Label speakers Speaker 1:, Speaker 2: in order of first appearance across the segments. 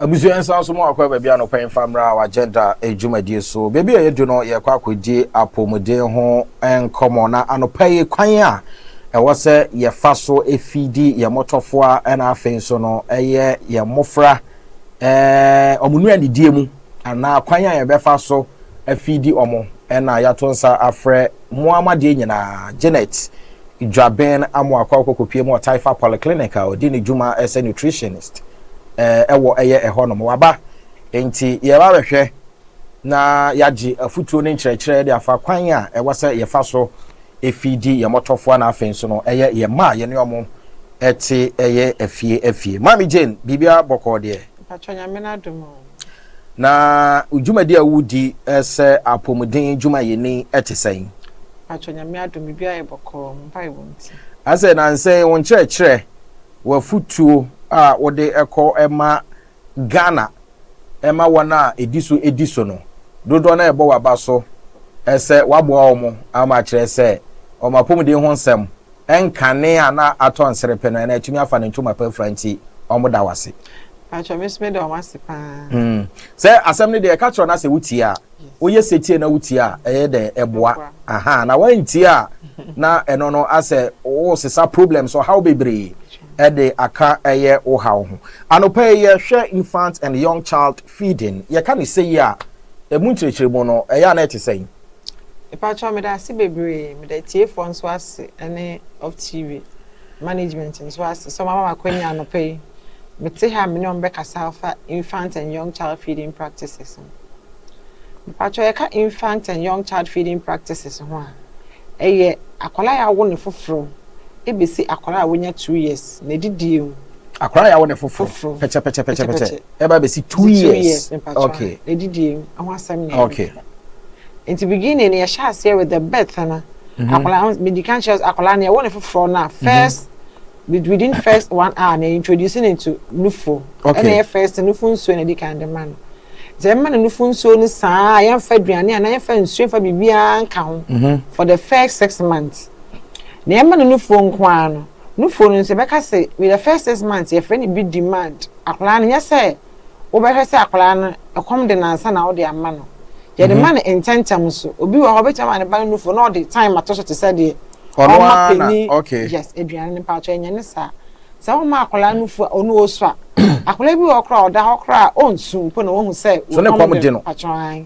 Speaker 1: abusua nsa nso mu akɔ baabi anɔpa mfa mmra wɔ agenda adwumadie so baabi a yɛdu no yɛkɔ akɔdi apɔmuden ho nkɔmmɔ na anɔpa yi kwan a ɛwɔ sɛ yɛfa so efidi yɛn mmɔtɔfoa ɛna afei nso no ɛyɛ yɛn mmɔfra ɛɛ wɔn nua didie mu anaa kwan a yɛbɛfa so afidi wɔn ɛna yɛato nsa afrɛ Mmoa ma deɛ nyinaa. Janet Dwaben Amoah kɔ akɔ kɔpue mu wɔ Taifa Polyclinic a ɔdi ne dwuma sɛ nutritionist wɔ ɛyɛ ɛhɔ nom. Waba nti yɛreba abɛhwɛ na yɛagye afutuo ne nkyerɛkyerɛ de afa kwan a ɛwɔ sɛ yɛfa so fi di yɛn mɔtɔfoa na afei nso no ɛyɛ yɛn mma a yɛne wɔn te ɛyɛ afie afie. Maame Jane, biribiara bɔkɔɔ deɛ? Mpakyɛ Nyame no adom
Speaker 2: o. Na
Speaker 1: wo dwumadi a wudi sɛ apɔmuden dwumayɛni te sɛn? Mpatsɔ, Nyame
Speaker 2: adom biribiara yɛ bɔkɔɔ, mo mpaebɔ ntsi. Ase, Nansɛ yi
Speaker 1: wo nkyerɛkyerɛ, w'afotuo a wode kɔ ma Ghana ma wɔn a ɛdi so di so no, dodoɔ no ara ɛbɔ w'aba so sɛ woaboa wɔn ama akyerɛ sɛ wɔn apɔmuden ho nsɛm. Nkane a na atɔ nserepe no, na atumi afa ne ntoma pa afura nti, wɔda wo ase. Mpakyɛ, me nso meda
Speaker 2: wɔn ase paa. Hmm. Sɛ
Speaker 1: asɛm no deɛ ɛka kyerɛ no asɛ wotie a, woyɛ setie na wotie a, ɛyɛ dɛ ɛboa. Aha, na woantie a, na ɛno no asɛ wosesa problems, ɔhaw bebree ɛde aka ɛyɛ wo haw ho. Anɔpa yi yɛhwɛ infant and young child feeding. Yɛka no sɛyi a, ɛmu nkyerɛkyerɛmu no, ɛyɛ a na ɛte sɛn? Mpakyɛw
Speaker 2: meda ase bebree, meda atiefoɔ nso ase ɛne OFTV management nso ase sɛ wɔama me akwanya anɔpa yi mete ha a me ne wɔn bɛkasa afa infant and young child feeding practices ho. Mpakyɛw yɛka infant and young child feeding practices ho a, ɛyɛ akwadaa a yɛawo no foforɔ ɛbɛsi akwadaa a wanya two years na ɛdidie mu. Akwadaa a yɛawo no
Speaker 1: foforɔ, pɛkyɛpɛkyɛpɛkyɛpɛkyɛ. ɛba bɛsi two years two years mpatwa okay edidie mu ɛho
Speaker 2: asɛm na okay
Speaker 1: nti
Speaker 2: beginning yɛ hyɛ aseɛ with the birth no mhm. akwadaa medi kan kyerɛ akwadaa no yɛwɔ ne foforɔ na mhm. first within first one hour na introduce ne to nufo okay ɛna yɛ first nufo nsuo na edi kan de ma no sɛ mma no nufo nsuo no saa yɛnfa aduane anaa yɛnfa nsuo nfa biribiara nka ho mhm. for the first six months na ɛma no nufuo nko ara no Nufoɔ no nso bɛka se with the first six months yɛfrɛ no bi demand akwadaa no nyɛ sɛ wobɛhwɛ sɛ akwadaa no ɛkɔm de no ansa na wode ama no yɛde ma no ntɛntɛm so obi wɔ hɔ ɔbɛtumi ama ne ba no nufoɔ na ɔde time ato so te sɛ deɛ ɔma panin
Speaker 1: yes aduane
Speaker 2: no mpakyɛ ɛnyɛ ne saa sɛ woma akwadaa nufoɔ a ɔno ɔsɔ a akwadaa bi wɔ hɔ koraa a ɔda hɔ koraa a ɔnsu mpo na wahu sɛ wɔkɔm de no
Speaker 1: mpakyɛ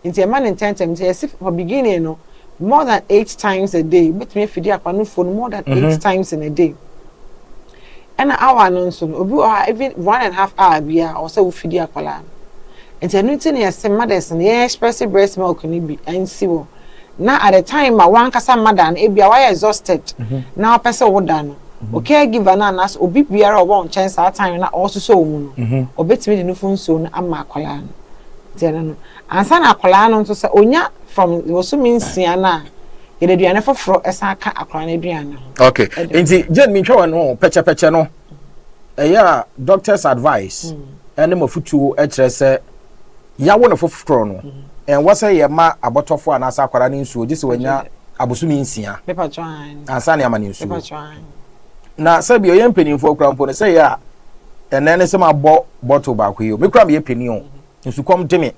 Speaker 2: nti ɛma no ntɛntɛm nti yɛsi from beginning no more than eight times a day wobɛtumi afidi akwa no fo no more than eight mm-hmm. times in a day ɛna awa no nso no obi wɔ hɔ even one and half hour bia ɔwɔ sɛ wofidi akwadaa no nti ɛno nti na yɛse mothers no yɛn express breast milk no bi ansi hɔ na at the time ma wankasa mada no ebia wayɛ exhausted mm-hmm. na wapɛ sɛ woda no mm-hmm. o caregiver no anaasɛ obi biara ɔwɔ nkyɛn saa time na ɔresosɔ wɔ mu no ɔbɛtumi de no fo nsuo no ama akwadaa no nti ɛno no Ansa na akwadaa no nso sɛ ɔnya from bosome nsia no a yɛde aduane foforɔ san ka akwadaa no aduane no ho. Ok, nti
Speaker 1: Jane mentwa wɔ no pɛkyɛpɛkyɛ no ɛyɛ a doctor's advice ɛne mm. mafutuo ɛkyerɛ sɛ yawo no foforɔ no mm. ɛnwɔ sɛ yɛ ma abɔtɔfoɔ anaasɛ akwadaa no nsuo gye sɛ wanya abosome nsia
Speaker 2: ansa ne ama no nsuo na sɛbi
Speaker 1: ɔyɛ mpanimfoɔ kora mpo no sɛ yɛ a ɛnɛ ne sɛ mabɔ bɔttle baako yi o mekura meyɛ panin o mm. Nsukɔm gye me,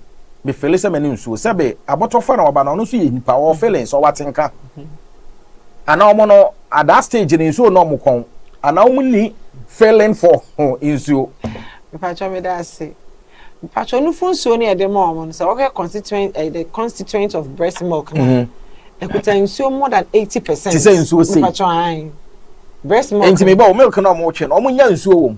Speaker 1: me fele sɛ m'ani nsuo. Sɛ be abɔtɔfa na ɔba na ɔno nso yɛ nipa, ɔwɔ feelings, ɔwɔ atenka. Ana ɔmo no at that stage no nsuo na ɔmo kɔn. Ana ɔmo ni feeling for nsuo. Mpakyɛ
Speaker 2: meda ase. Mpakyɛ nufo nsuo no yɛde ma ɔmo no sɛ ɔhwɛ constituent eh, the constituent of breast milk na. Mm-hmm. Ekuta nsuo more than 80%. Ti sɛ nsuo
Speaker 1: sei.
Speaker 2: Mpakyɛ
Speaker 1: ayi.
Speaker 2: Breast milk. Enti mebɔ milk na ɔmo
Speaker 1: twe no ɔmo nya nsuo wɔ mu.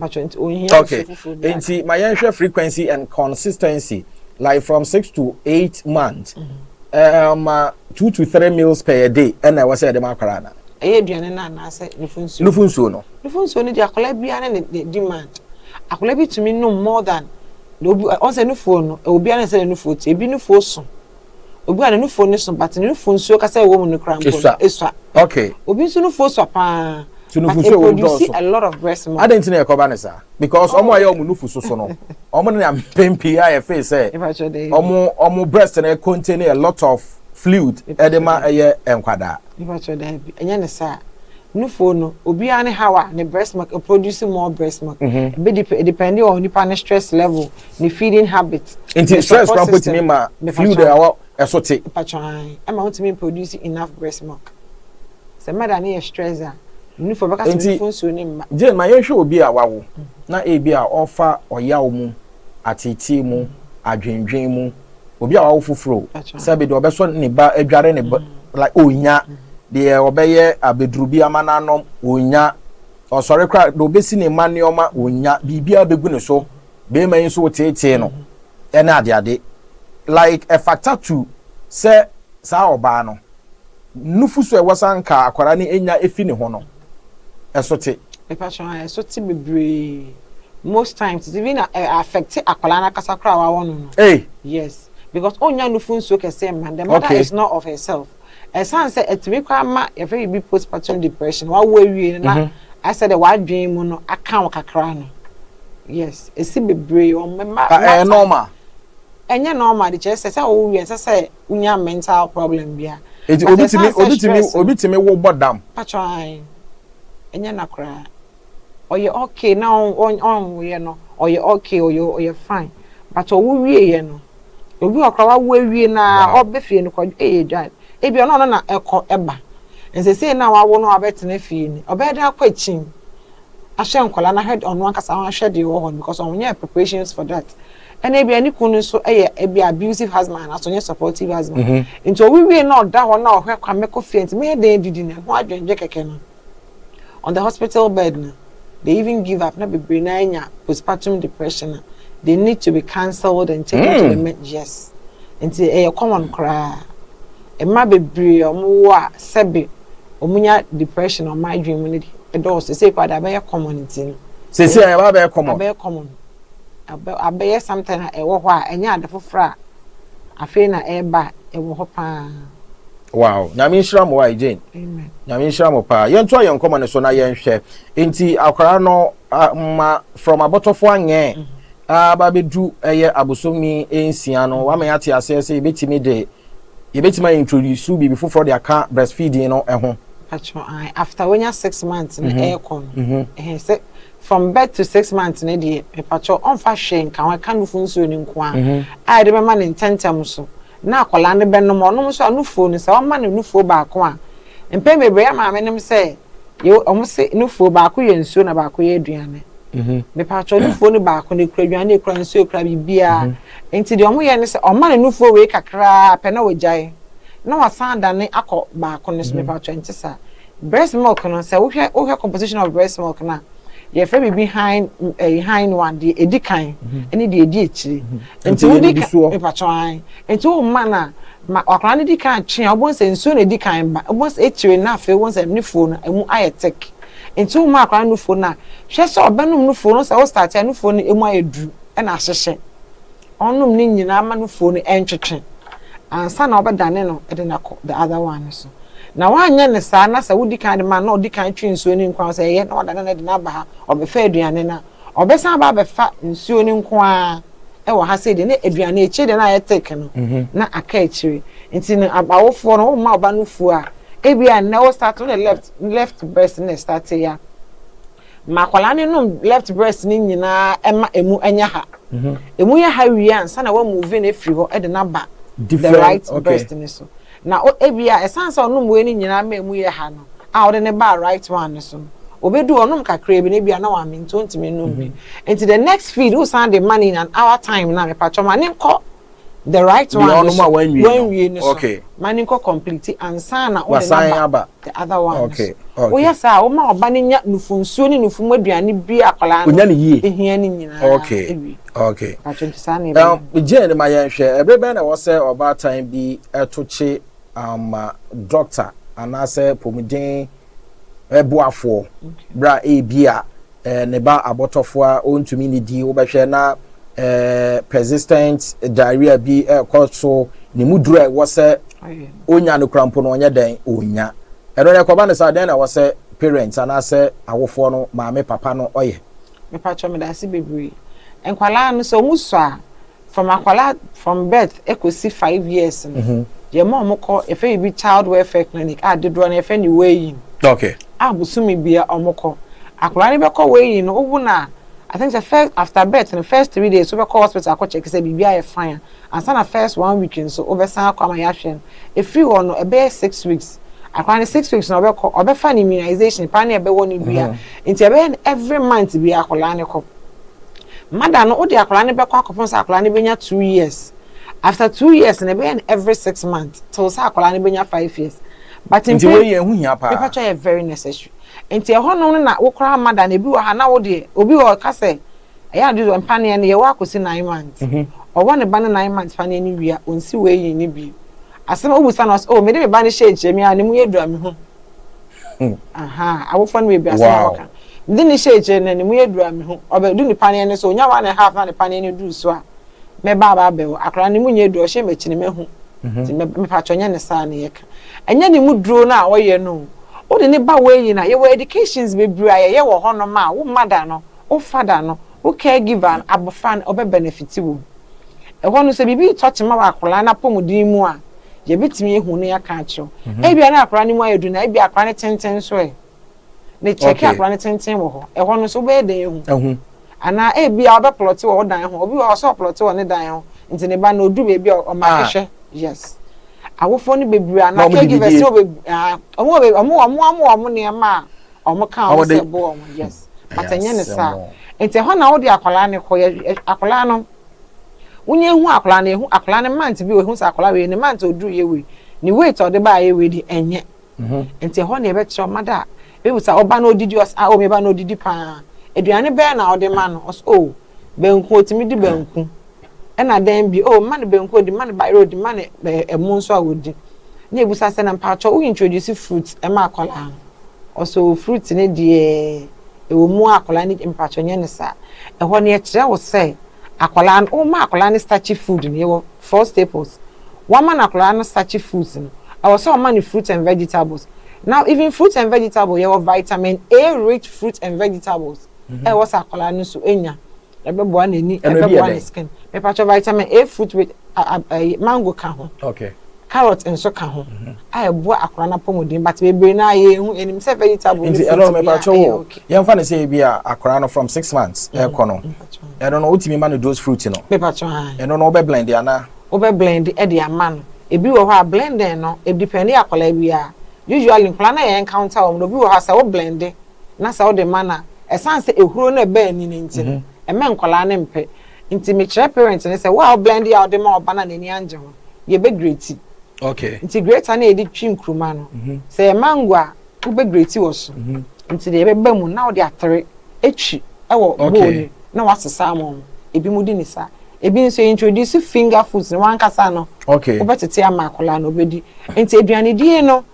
Speaker 1: Okay. Nti ma yɛnhwɛ frequency and consistency like from six to eight months. Mm -hmm. Eh, ma two to three meals per day ɛna ɛwɔ sɛ ɛde ma akwaraa na. ɛyɛ aduane no anaasɛ
Speaker 2: nufu nsuo. nufu nsuo no. nufu nsuo no di akwaraa biara ne ne demand akwaraa bi tumi nom more than na obi ɔn sɛ nufuo no obiara ne sɛ ne nufuo ti ebi nufuo so. Obi a ne nufuo no so but ne nufuo nsuo kasa ɛwɔ mu no koraa mpo no esua. Okay. Obi nso
Speaker 1: nufuo sua
Speaker 2: paa. So nufuo nsuo ɛwɔ mu
Speaker 1: dɔɔso. But e produce a lot of breast milk.
Speaker 2: Adan ti na ɛkɔba ne saa
Speaker 1: because ɔmo a yɛ ɔmo nufu so so no ɔmo ne mpɛn pii a yɛ feel sɛ ɔmo ɔmo breast na contain a lot of fluid ɛde ma ɛyɛ nkwadaa. Nipa kyerɛ daabi
Speaker 2: ɛnyɛ ne saa. Nufoɔ no, obiara ne haw a ne breast milk produce more breast milk. Ɛbɛ depend, depending on nipa ne stress level, ne feeding habit, Nti stress kora mpo
Speaker 1: tumi ma fluid a ɛwɔ ɛso te. Mpatwaan, ɛma
Speaker 2: wontumi produce enough breast milk. Sɛ mother no yɛ stress a, ne nufoɔ bɛka sɛ nufoɔ nsuo no mma. Jane, ma yɛnhwɛ obi a
Speaker 1: wawo na ebia ɔfa ɔyaw mu, ateetee mu, adwendwen mu. obi a wawo foforo sɛ bi de ɔbɛsɔ ne ba adware ne ba mm-hmm. like onya mm-hmm. deɛ ɔbɛyɛ abeduru bi ama n'anom onya ɔsɔre kora deɛ ɔbɛsi ne mma nneɛma onya biribiara bɛgu ne so bɛrima yi nso woteetee no mm-hmm. ɛne adeade like ɛfata tu sɛ saa ɔbaa no nufu so ɛwɔ sa nka akwadaa no enya efi ne ho no ɛso te. Mepakyɛw aah
Speaker 2: ɛso te bebree most times it's even ɛ affect akwadaa no ankasa koraa a wawɔ no no Ei! yes
Speaker 1: because
Speaker 2: onnya nufo nsuo kɛseɛ mma no the mother Okay. is not of herself ɛsan sɛ ɛtumi koraa ma yɛfrɛ biribi postpartum depression wawo awie no na Mhm. ayɛ sɛ deɛ w'adwene mu no aka wo kakra no yes ɛsi bebree wɔn mma Ba ɛyɛ mma normal.
Speaker 1: ɛnyɛ
Speaker 2: normal de kyerɛ sɛ sɛ wowie ɛsɛ sɛ wonya mental problem bi a. Eti obi tumi obi
Speaker 1: tumi obi tumi wo bɔ dam. Patro ayi
Speaker 2: ɛnyɛ na koraa ɔyɛ okay na ɔnwoyɛ no ɔyɛ okay ɔyɛ ɔyɛ fine but ɔwo wie yɛ no obi wɔ koraa wawo awie na ɔbɛ fie no kɔ ɛyɛ dwan ebi ɔno ɔno na ɛkɔ ɛba nsesei na wawo no abɛtena fie ni ɔbɛyɛ dɛ akɔ akyim ahyɛ nkɔla na hwɛ ɔno ankasa ahwɛ deɛ ɛwɔ hɔ no because ɔnyɛ preparations for that ɛna ebia ne kunu no nso yɛ ebia abusive husband anaasɛ ɔnyɛ supportive husband mm-hmm. nti owiwie na ɔda hɔ na ɔhwɛ kwa mɛkɔ fie nti mɛyɛ dɛn didi na ɛho adwendwe kɛkɛ no on the hospital bed no they even give up na bebree na anya postpartum depression na they need to be cancelled and taken mm. to the mm. med yes nti ɛyɛ common koraa mma bebree wɔn wɔ a sɛbi wɔn nya depression wɔn adwene mu ne de ɛdɔɔso sɛ ekɔ ade abɛyɛ common nti no sɛ sɛ ɛbɛyɛ
Speaker 1: common abɛyɛ common.
Speaker 2: abɛyɛ something a ɛwɔ hɔ a ɛnyɛ ade foforɔ a afei na ɛreba a ɛwɔ hɔ paa. Wow,
Speaker 1: Nyame nhyira mo wae Jane. Amen. Nyame nhyira
Speaker 2: mo paa.
Speaker 1: Yɛnto ayɛ nkɔmɔ no so na yɛnhwɛ. Nti akwara no ma from abɔtɔfo anyɛ mhm. aba bedu ɛyɛ abosomi nsia no wama yɛate aseɛ sɛ yɛbɛtumi de yɛbɛtumi ayɛ introduce biribi foforɔ de aka breastfeeding no ɛho. After
Speaker 2: wanya six months no ɛrekɔ no ɛhɛn sɛ From birth to six months no deɛ mepakyɛw ɔmfa hwee nka ho, ɛka nufu nsuo no nko ara a yɛde bɛma no ntɛntɛm so na akwadaa no bɛnom, ɔnom nso a nufuo no sɛ wɔma no nufuo baako a, mpɛn bebree yɛn maame nom sɛ yɛ wɔn se nufuo baako yɛ nsuo na baako yɛ aduane. Mhm. Mepakyɛw nufuo no baako no ekura aduane, ekura nsuo, ekura biribiara. Mhm. Nti deɛ wɔyɛ ne sɛ ɔma no nufuo wei kakraa pɛ na wɔgyae na wɔsan adane akɔ baako no so, mhm. mepakyɛw nte saa. Breast milk no, sɛ wohwɛ wohwɛ composition of breast milk no a, yɛfrɛ biribi hind ɛyi hind one deɛ edi kan ɛne deɛ edi akyire. Nti Nti ɛyɛ wodi ka nugusoɔ. mepatwɔn an. Nti wo mma no a, ma akwadaa no di kan twe a wobɛhu sɛ nsuo na edi kan ba. Wobɛhu sɛ akyire no afei wobɛhu sɛ nufuo no emu ayɛ thick. Nti woma akwadaa no nufuo no a, hwɛ sɛ ɔbɛnom nufuo no. Wo sɛ wo start a nufuo no emu ayɛ duru ɛna ahyehyɛ. Ɔnom ne nyinaa ma no fuo no ntwetwe ansa na wobɛdane no de no akɔ the other one no so. Na woanyɛ no saa na sɛ wodi kan de ma no na ɔdi kan twe nsuo no nko ara sɛ ɛyɛ na wadane no de no aba ha, ɔbɛfa aduane no a, ɔbɛsan aba abɛfa nsuo no nko ara wɔ ha sei deɛ na aduane akyire deɛ na ayɛ thick no na aka akyire. Nti no awofoɔ no womma wo ba no fuo a, ebia nnɛ wo start wo ne left left breast na ɛstarteeɛ a, Ma akwadaa no nom left breast no nyinaa ma ɛmu nyɛ ha. Ɛmu yɛ ha wie a, ansa na woamuvi no afiri hɔ de no aba the right breast no so. Na ebia ɛsiane sɛ ɔnom wei no nyinaa ma ɛmu yɛ ha no, a wode no baa right one no so no, ɔbɛdu hɔ, ɔnom kakraa bi na ebia na wamee nti ɔntumi nnom bi. Nti the next feed wosan de ma no in an hour time no a, mepakyɛ ma no nkɔ. The right one no so wanwie no so ma ne nkɔ
Speaker 1: complete
Speaker 2: ansa na wode no aba the
Speaker 1: other one
Speaker 2: no so woyɛ saa
Speaker 1: a woma
Speaker 2: ɔba no nya nufo nsuo ne nufo mu aduane bi a akwadaa no ɛhia no nyinaa ɛwie
Speaker 1: atwo
Speaker 2: nti saa na ɛbɛyɛ gyee ne ma
Speaker 1: yɛnhwɛ ɛbere bɛn na ɛwɔ sɛ ɔbaatan bi ɛto kye ama dɔkta anaasɛ pomuden ɛboafoɔ berɛ a ebi a eh, ne ba abɔtɔfo a ɔntumi nnidi, wobɛhwɛ na eh, persistent diarrhea bi ɛrekɔ so, ne mu duro a ɛwɔ sɛ ɔnya no kura mpo no ɔnyɛ dɛn ɔnya. Ɛno no ɛkɔba no saa dɛn na ɛwɔ sɛ parents anaasɛ awofoɔ no maame papa no ɔyɛ? Mepatwɔ medase
Speaker 2: bebree. Nkwalaa no sɛ ɔmu sɔ a, From akwadaa from birth ɛkɔsi five years no, yɛma wɔn kɔ yɛfrɛ biribi child welfare clinic a dodoɔ no yɛfrɛ no weighing. Okay. A
Speaker 1: bosome bia
Speaker 2: wɔn kɔ. Akwadaa no bɛkɔ weighing no, wowo no a, I think sɛ first after birth no first three days wobɛkɔ hospital akɔ check sɛ biribi ayɛ fine a, ansa na first one week nso wobɛsan akɔ ama yɛahwɛ no. Ɛfiri hɔ no ɛbɛyɛ six weeks. Akwadaa no six weeks no ɔbɛkɔ, ɔbɛfa ne immunization paa ne ɛbɛwɔ ne dua. Nti ɛbɛyɛ no every month biara akwadaa no kɔ. Mother no wode akwadaa no bɛkɔ akɔpem sɛ akwadaa no bɛnya two years after two years no ɛbɛyɛ no every six months till sɛ akwadaa no bɛnya five years but mpɛn Nti wei yɛ ɛho hia paa.
Speaker 1: Mepatwa yɛ very necessary
Speaker 2: nti ɛhɔ nom no na wo koraa mother no ebi wɔ ha na wo deɛ obi wɔ hɔ ɔka sɛ ɛyɛ a do mpaneɛ no yɛwɔ akɔsi nine months ɔwɔ ne ba no nine months paneɛ no wie a ɔnsi weighing no bio asɛm a wobusa no ɔse oh mede me ba no hyɛɛ kyerɛ me ara ne mu yɛ duru a mehu Hmm. Aha, abɔfra no mu ebiasa na wɔka. Mede ne hyɛɛ akyire no, ne mu yɛ duru a mehu. Ɔbɛdu ne paneɛ no so, ɔnya one and half na ne paneɛ no duru so a, mɛba aba abɛwo. Akwadaa no mu nyɛ duru, ɔhyɛ m'akyi no mahu. Mhm. Nti mepatwɔ nyɛ ne saa na yɛka. Ɛnyɛ ne mu duro no a ɔyɛ no Wode ne ba wei nyina, yɛwɔ educations bebree a yɛyɛ wɔ hɔnom a wo mada no, wo fada no, wo caregiver no, abofra no, ɔbɛ benefit wom. Ɛhɔ no, sɛ biribi retɔ kyema wɔ akwadaa no apɔmuden mu a, yɛbɛtumi ahu na yɛaka akyerɛ wo. Ebia na akwadaa no mu ayɛ duru na ebia akwadaa no tenten nso ɛ. Ne kyɛke akwadaa no tenten wɔ hɔ. Ɛhɔ no nso wobɛyɛ dɛn ahu? Ahu. Anaa ebia ɔbɛplɔte wɔ wo dan ho. Obi wɔ hɔ sɛ ɔplɔte wɔ ne dan ho nti ne ba no ɔduru baabi a ɔmake hwɛ. Yes. Awofoɔ no bebree anaa caregivers no bebree, wɔn wɔ wɔn wɔn nneɛma a Ɔmo ka ɔmo sɛ bo ɔmo yes but ɛnyɛ ne saa nti ɛhɔ na wode akwadaa no kɔ yɛ akwadaa no wonya ehu akwadaa no ehu akwadaa no month bi ehu sɛ akwadaa wei ne month oduru yɛ wei ne weight ɔde ba ayɛ wei de ɛnyɛ nti ɛhɔ na ɛbɛkyerɛ ɔmo ada ebi sa ɔba na odidi ɔs a omi ba na odidi paa aduane bɛyɛ na ɔde ma no ɔs o Banku, wɔtumi di banku. Ɛna dɛn bio? Oh, mma no banku a ɔdi, mma no bayerɛ a ɔdi, mma no ɛmo nso a ɔdi. Na yɛbisa sɛ, na mpakyɛ wo introduce fruit ma akwadaa no? Ɔsɛ o, fruit no deɛ ɛwɔ mu a akwadaa no di, mpakyɛ nyɛ no saa. Ɛhɔ no yɛkyerɛ wo sɛ akwadaa no, woma akwadaa no starchy food no, yɛwɔ four staples. Wɔma no akwadaa no starchy foods no, ɛwɔ sɛ wɔma no fruit and vegetables. Now even fruit and vegetable, yɛwɔ vitamin A rich fruit and vegetables. ɛwɔ sɛ akwadaa no so nya ɛbɛboa n'ani ɛbɛboa ne skin mepatwa vitamin a fruit with mango ka ho okay carrot
Speaker 1: nso ka
Speaker 2: ho mhm. a ɛboa akwadaa no apɔmuden but bebree no a yɛhu ɛnim sɛ vegetable nti ɛno mepatwa
Speaker 1: wo yɛmfa ne sɛ bi a akwadaa no from six months mhm. ɛkɔ no ɛno no wotumi ma no dose fruit no mepatwa ɛno no wobɛ
Speaker 2: blend
Speaker 1: ana wobɛ blend ɛde
Speaker 2: ama no ebi wɔ hɔ a blending no ɛdepɛnde akwadaa bi a usually nkwadaa no yɛ encounter wɔn no obi wɔ hɔ a sɛ wo blend na sɛ wode ma no a, ɛsiane sɛ ehuro no ɛba ani no nti no, ɛmma nkwadaa no mpɛ. Nti mekyerɛ parent no sɛ, wo a wo blender a wode ma ɔba no a n'ani angye ho no, yɛ bɛ grate. Nti
Speaker 1: grater no a yɛde
Speaker 2: twi nkruma no, sɛ ɛyɛ mango a, wo bɛ grate wɔ so. Nti deɛ ɛbɛba mu no, na wode atere atwi wɔ bowl no mu na wasesa ama wɔn. Ebinom di no saa. Ebi nso, yɛ introduce finger foods no, wankasa no, wobɛtete ama akwadaa no, ɔbɛdi. Nti aduanedie no,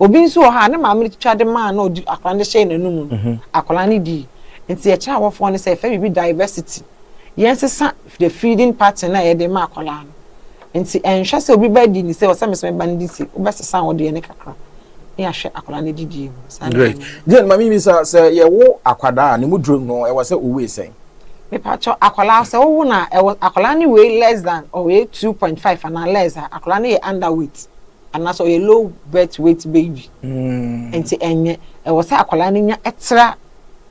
Speaker 2: Obi nso wɔ hɔ a, ne maame de twitwa de maa na ɔde akwadaa no de hyɛɛ n'anum no, akwadaa no dii. Nti yɛkyerɛ awɔfoɔ no sɛ yɛfrɛ biribi diversity. Yɛnsesa the feeding pattern a yɛde ma akwadaa no. Nti ɛnhwɛ sɛ obi ba di ne sei, ɔsɛ me nso mɛba no di sei, wobɛsesa wo deɛ no kakra na yɛahwɛ akwadaa no adidie mu. Saa na Great. maame
Speaker 1: no. Jane, ma me mmisa, sɛ yɛwo akwadaa a, ne mu duro no, ɛwɔ sɛ owei sɛn? Mepakyɛw,
Speaker 2: akwadaa sɛ wowo no a, ɛwɔ akwadaa no wei less than ɔwei two point five anaa less a, akwadaa no yɛ underweight. anaasɛ ɔyɛ low birth weight baby mm. nti ɛnyɛ ɛwɔ sɛ akwadaa no nya ɛtra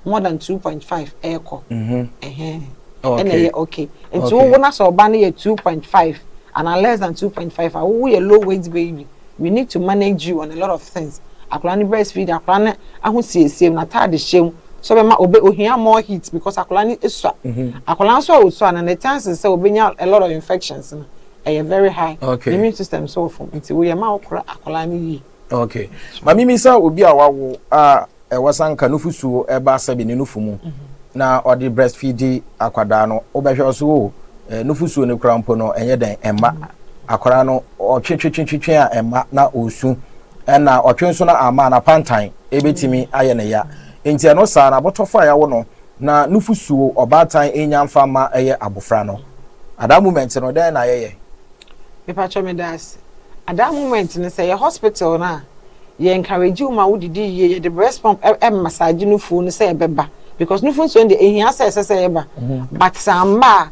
Speaker 2: more than two point five ɛɛkɔ mm-hmm. ɛhɛn ɛna ɛyɛ okay nti wowo na sɛ ɔba no yɛ two point five and less than two point five a wowo yɛ low weight baby we need to manage you on a lot of things akwadaa no breastfeed akwadaa no ahosiesie mu n'ataade hyɛ mu so bɛma obe ohia more heat because akwadaa no esua mm-hmm. akwadaa nso a osua no ne chances sɛ obenya a lot of infections no Ɛyɛ very high okay. immune system so
Speaker 1: ɔfam
Speaker 2: nti woyɛ ma wokora akwadaa no yie. Okay. Maame
Speaker 1: mi sɛ obi a wawo a ɛwɔ sanka nufusuo ɛba sɛbi ne nufu mu mhm. na ɔde breastfeed akwadaa no wobɛhwɛ ɔso o eh, nufusuo no kura mpo no ɛnyɛ dɛn ɛma mhm. akwadaa no ɔtwetwetwetwe a ɛma na ɔsu ɛna ɔtwe nso na ama na pantan ɛbɛtumi mhm. ayɛ ne ya nti ɛno saa na abɔtɔfo a yɛawo no Na nufusuo ɔbaatan nnya mfa mma ɛyɛ abofra no. Adaa moment no dɛn na yɛyɛ? Mepakyɛ
Speaker 2: medaase. Adaa moment no sɛ ɛyɛ hospital no a yɛ encourage wo ma wo didi yie, yɛde breast pump massage nufuo no sɛ ɛbɛba because nufunsuo no deɛ ɛhia sɛ ɛsɛ sɛ ɛba but sɛ amma a,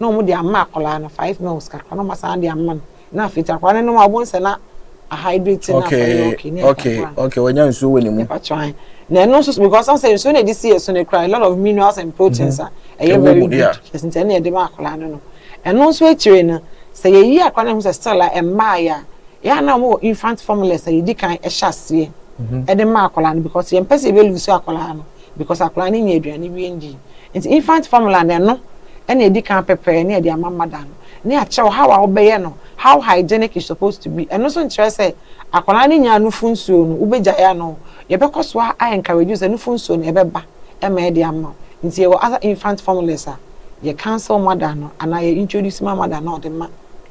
Speaker 2: na wɔn de ama akwadaa no five mils kakra na wɔn asan de ama no na afei ti akwadaa no nom a wɔn nsɛ na ahydrate na afei yɛ okay ne ɛka kora no
Speaker 1: okay wɔnya nsuo wɔ ne mu ɛpa twan na ɛno
Speaker 2: nso because ɔn sɛ nsuo na ɛde si yɛ so no kura a lot of minerals and proteins a ɛyɛ very good yes nti ɛna ɛde ma akwadaa no no ɛno nso akyire no sɛ yɛyi akwadaa no ho sɛ still a ɛmaa yɛ a yɛn a na wɔn wɔ infant formulas a yɛdi kan ɛhyɛ aseɛ ɛde ma akwadaa no because yɛn pɛ sɛ yɛbɛ lose akwadaa no because akwadaa no nya aduane wie ndi. Enti infant formula no ɛno na ɛdi kan pɛpɛɛ ne yɛde ama mother no. Ne akyerɛw how a wobɛyɛ no, how hygienic it supposed to be, ɛno nso nkyerɛ sɛ akwadaa no nyaa nufu nsuo no wobɛgyae anoo, yɛbɛkɔ so a encourage wo sɛ nufu nsuo no ɛbɛba ma yɛde ama wo. Enti yɛwɔ other infant formulas a yɛ counsel mother no anaa yɛ introduce ma mother no a ɔde ma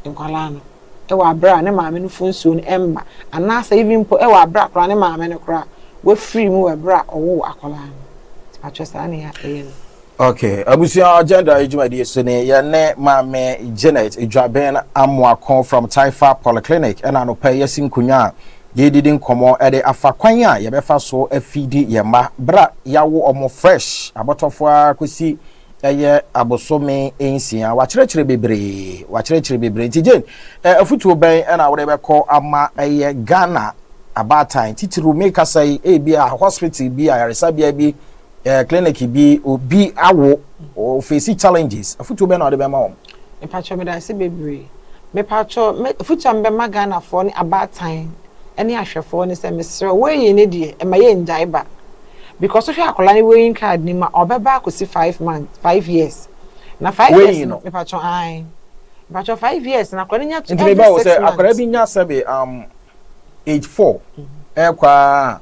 Speaker 2: nkwadaa no. wɔ aberɛ a ne maame no fo nsuo no mma anaasɛ even mpo wɔ aberɛ a koraa ne maame no koraa wafiri mu wɔ aberɛ a ɔwoo akwadaa no atwerɛ saa ne a ɛyɛ no. Ok,
Speaker 1: abusua agenda yi dwumadie so ni yɛne maame Janet Dwaben Amoako from Taifa Polyclinic ɛna anɔpa yi asi nkonnwa a yɛdidi nkɔmmɔ ɛde afa kwan a yɛbɛfa so afidi yɛn mma berɛ a yɛawo wɔn fresh abɔtɔfoɔ ara kɔsi ɛyɛ abosome nsia. Wakyerɛkyerɛ bebree, wakyerɛkyerɛ bebree. Nti Jane, eh, afutuo bɛn ɛna wode bɛkɔ ama ɛyɛ Ghana abaatan titiriw me kasa yi ebi a hospital bi ayaresabea bi eh, clinic bi obi awo ofesi challenges afutuo bɛn na wode bɛma wɔn? Mpakyɛw medase
Speaker 2: bebree. Mepakyɛw me afutu a mebɛma Ghanafoɔ ne abaatan ne ahwɛfoɔ ne sɛ mesrɛ weighing no deɛ ɛma yɛ ngyae ba because wohwɛ akwadaa no weighing card no mu a ɔbɛba akɔsi five months five years na five years no mepakyɛw ae mepakyɛw five years no akwadaa no nya to every six months. Nti meba wɔ sɛ akwadaa
Speaker 1: bi nya sɛbe um age four ɛkɔ a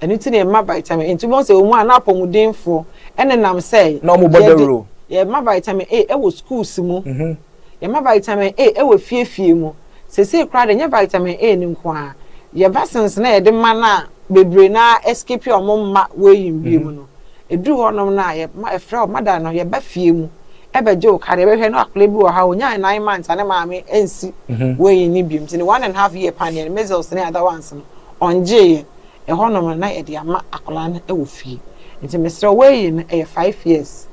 Speaker 2: Ɛno nti na yɛma vitamin A. Nti wobɛhu sɛ wɔn a na apɔmudenfoɔ nenam sɛ Na wɔn bɔ dawuro.
Speaker 1: Yɛma vitamin
Speaker 2: A wɔ schools mu. Yɛma vitamin A wɔ fie fie mu. Seesei koraa deɛ ɛnyɛ vitamin A no nko ara. Yɛn vaccines no a yɛde ma no a bebree no ara ɛskipi a wɔn mma weighing bio mu no, ɛduru hɔnom no a yɛma yɛfrɛ wo mother no, yɛba fie mu bɛgye wo card. Yɛbɛhwɛ na akwadaa bi wɔ ha a ɔnyaa nine months a ne maame ansi weighing no bio. Nti ne one and half year paneɛ no, measles ne other ones no, Ɔngyeeɛ, ɛhɔnom no na yɛde ama akwadaa no wɔ fie. Nti mesrɛ wo eii no ɛyɛ five years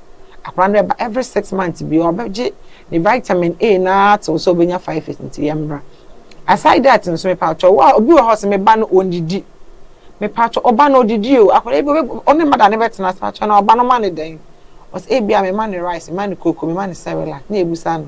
Speaker 2: akwadaa no bɛba every six months biara ɔbɛgye ne vitamin A no ara tew sɛ ɔbɛnya five years nti yɛmmra. Aside that nso mepatwɔ wo a obi wɔ hɔ a ɔse me ba no ɔndidi mepatwɔ wo ba no ɔdidi o akwadaa bi wo ne mother no bɛtena ase patwɔ na wo ba no ma no dɛn ɔse ebia me ma no rice me ma no cocoa me ma no cerelac na yɛbisa no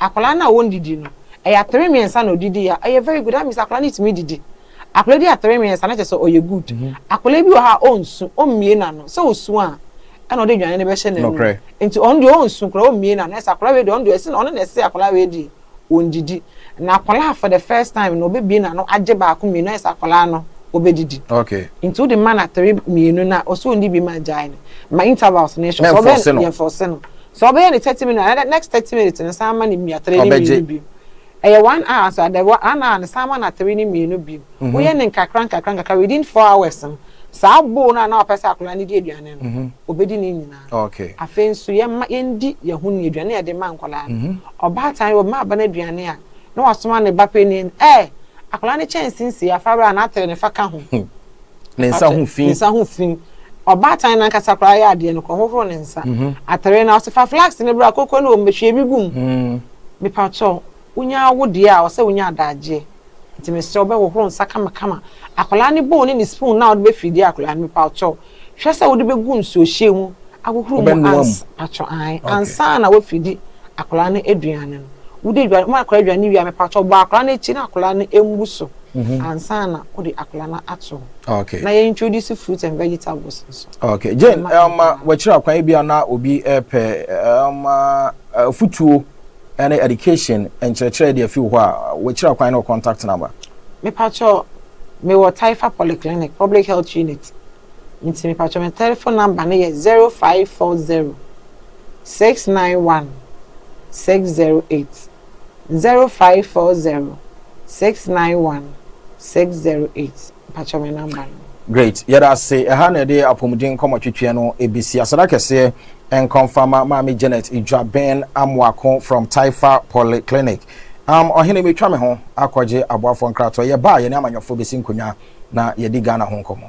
Speaker 2: Akwadaa no a ɔndidi no ɛyɛ atere mmiɛnsa na ɔdidi ya ɛyɛ very good that means akwadaa no tumi didi akwadaa di atere mmiɛnsa na kyerɛ sɛ ɔyɛ good akwadaa bi wɔ hɔ a ɔnsu ɔmmie n'ano sɛ ɔsu a ɛna ɔde aduane no bɛhyɛ n'anum nti ɔno deɛ ɔnsu koraa ɔmmie n'ano ɛsɛ akwadaa wei deɛ ɔno deɛ ɛsɛ na ɔno na ɛsɛ akwadaa wei deɛ ɔndidi na akwadaa for the first time na ɔbɛbie n'ano agye baako mmienu ɛsɛ akwadaa no ɔbɛdidi nti wode
Speaker 1: ma no atere
Speaker 2: mmienu na ɔsɛ ɔndi bi ma agyae no ma intervals no ɛhyɛ ɔbɛn yɛn fɔse no Sɛ ɔbɛyɛ ne thirty minutes na next thirty minutes no san ma no mia tere ne mmienu bio. Ɛyɛ one hour so ada one hour no san ma no atere ne mmienu bio. Woyɛ no nkakra nkakra nkakra within four hours no saa bowl no a na ɔpɛ sɛ akwadaa no di aduane no mhm. obedi ne nyinaa. Afei nso
Speaker 1: yɛma
Speaker 2: yɛndi yɛn ho ni aduane yɛde ma nkwadaa no. Mhm. Ɔbaatan yɛ ɔma aba no aduane a na wasoma ne ba panyin ɛ akwadaa no kyɛnse nsia fa bra na atere ne fa ka ho. Hmm. ne nsa
Speaker 1: ho fi. Ne nsa ho fi. Ɔbaatan no ankasa
Speaker 2: koraa yɛ adeɛ no, kɔhohoro ne nsa. Mhm. Atere no, ɔsɛ fa flax no bra, koko no wɔ mu, bɛhwie bi gu mu. Mm. Mepakyɛw, wonya wo deɛ a, ɔsɛ wonya adagyeɛ. Nti mesrɛ wo bɛhohoro nsa kamakama. Akwadaa no bowl ne ne spoon no a wode bɛfidi akwadaa no, mepakyɛw, hwɛ sɛ wode bɛgu nsuohyɛ mu ahohoro mu ans pakyɛw ae ansa na wafiri di akwadaa no aduane no wodi aduane ma akwadaa aduane wie a mepakyɛw bɔ akwadaa no akyi na akwadaa no mmu so mhm. ansa na wode akwadaa no ato hɔ okay. na yɛ introduce
Speaker 1: fruit
Speaker 2: and vegetables nso okay. Jane um,
Speaker 1: uh, wakyerɛ akwan bi a na obi ɛpɛ eh, um, uh, uh, afutuo ɛne education nkyerɛkyerɛ de afi hɔ a wakyerɛ akwan no contact number mepakyɛw
Speaker 2: mewɔ taifa polyclinic public health unit Nti mepakyɛ me tɛlefon namba no yɛ zero five four zero six nine one six zero eight zero five four zero six nine one six zero eight mepakyɛ me namba no. Great yɛda
Speaker 1: ase ɛha na ɛde apɔmuden nkɔmɔ twetweɛ no ebesi aseda kɛseɛ nkɔnfama maame Janet Idwaben Amoako from Taifa Polyclinic. Um, ɔhene metwa me ho akɔgye aboafoɔ nkratoɔ yɛba a yɛne amanyɔfoɔ besi nkonnwa. na yɛadi Ghana ho nkɔmmɔ.